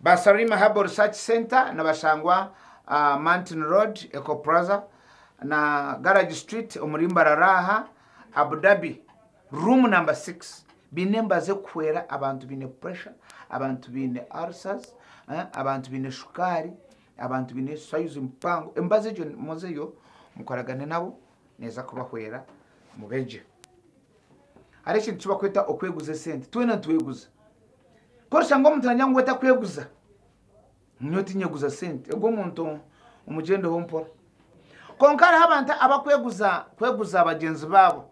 Ba Sarima Herbal Research Center nibashangwa ah, Mountain Road, Eco Plaza na Garage Street omuri Mbarara aha Abu Dhabi room number 6 biine emibazi erikuhwera abantu baine pressure abantu baine ulcers eh, abantu baine shukaari Abantu baine sayuzi mpango. Emibazi egyo muzeyo mukoragane nabo neeza kubahwera mubegye. Hariho ekintu eki bakweta okweguza esente. Twena nitweguza. Ku orishanga omuntu nagira ngu we takweguza, nyowe tinyeguza sente. Ogwo omuntu omugyendeho mpora. Kwonka hariho abantu abakweguza kweguza bagyenzi baabo.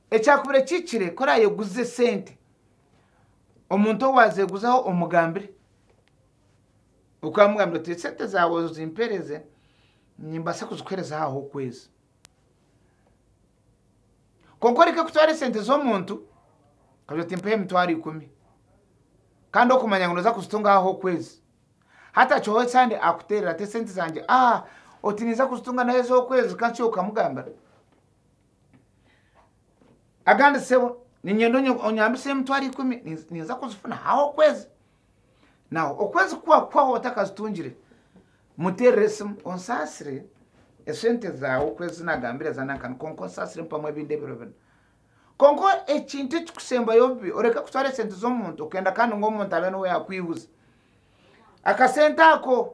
Ekyakubire kihikire ku orayeguze sente, omuntu owazeguzaho omugambire. okamugambira oti esente zaawe ozimpereze nimbaasa kuzikuhereza aha h'okwezi kwonka oreke kutwara esente z'omuntu okagira oti mpeho emitwaro ikumi kandi okumanya ngu nooza kuzitunga aha h'okwezi hatakihwaho esande akuteerera ati esente zangye ah oti niiza kuzitunga n'aha ez'okwezi kanshuhe okamugambira agandi sebo niinyenda onyambise emitwaro ikumi ninza kuzifuna aha h'okwezi Nawe okwezi ku kwahwaho otakazitungire, muteerere esimu onsaasire esente zaawe oku ezi naagambire za nankani kwonka onsaasire mpamu ebindi ebiro bina. Kwonka ekintu ekirikusembayo obubi, oreke kutwara esente z'omuntu okenda kandi ngu omuntu abe niwe yaakwihuza akasente ako.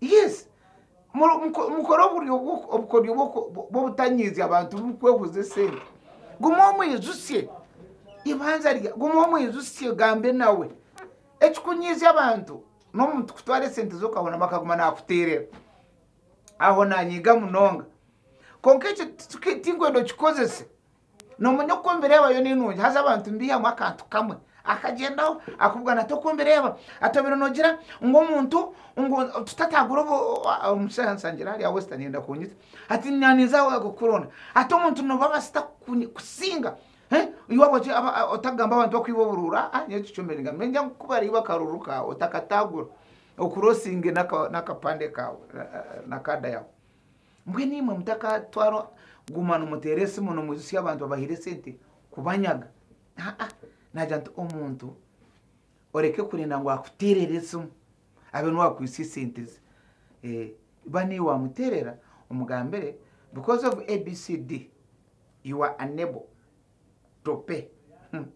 Yes. Mu- muko- mukore oburyo bw'oku- obukoryo bw'oku- bw'obutanyiizya abantu burikwehuzya esente guma omwijusye ibanza rya guma omwijusye gambe nawe ekikunyiizya abantu n'omuntu kutwara esente ze okahoramu akaguma naakuteerera aho naanyiiga munonga kwonka ekyo tiki- tinkwenda okikozese Noomanya oku ombireba yo n'enungi haza abantu nibaihamu akantu kamwe akagyendaho akubugana ati oku ombireba ati obaire noogira ngu omuntu ngu tutatagura obu omushaija ansangire hariya wesita neyenda kunyita ati na ninza kukuronda ati omuntu nooba abasita kuku kusinga eh ei waaba oti aba otakugamba abantu bakwiba oburuuru aa nyowe tikyombire ningamba ningira ngu ku bariiba akaruuru kaawe otakatagura okure osinge n'aka n'akapande kaawe na kaada yaawe Mbwenu imwe mutakatwarwa kuguma nimuteera esimu nimwijutsya abantu abahaire esente kubanyaga. Aa, naagira nti omuntu oreke kurenda ngu akuteerere esimu abe niwe wakwitsya esente ze. Eh, ba niiwe wamuteerera omugambire because of ABCD you are unable to pay. Hmm,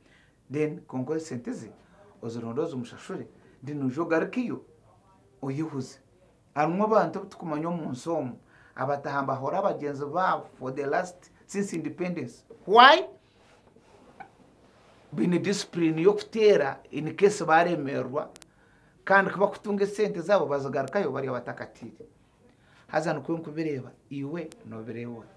then kwonka esente ze ozironde ozimushashure then oije ogarukeyo oyehuze. Harimu abantu abu tukumanya omu nsi omu abataha nibahora bagyenzi baabo for the last since independence why? Baine discipline y'okuteera in case baremererwa kandi ku bakutunga esente zaabo bazigarukayo bari abatakatiire. Haza nikwo nkubireeba, iwe nobireeba ota?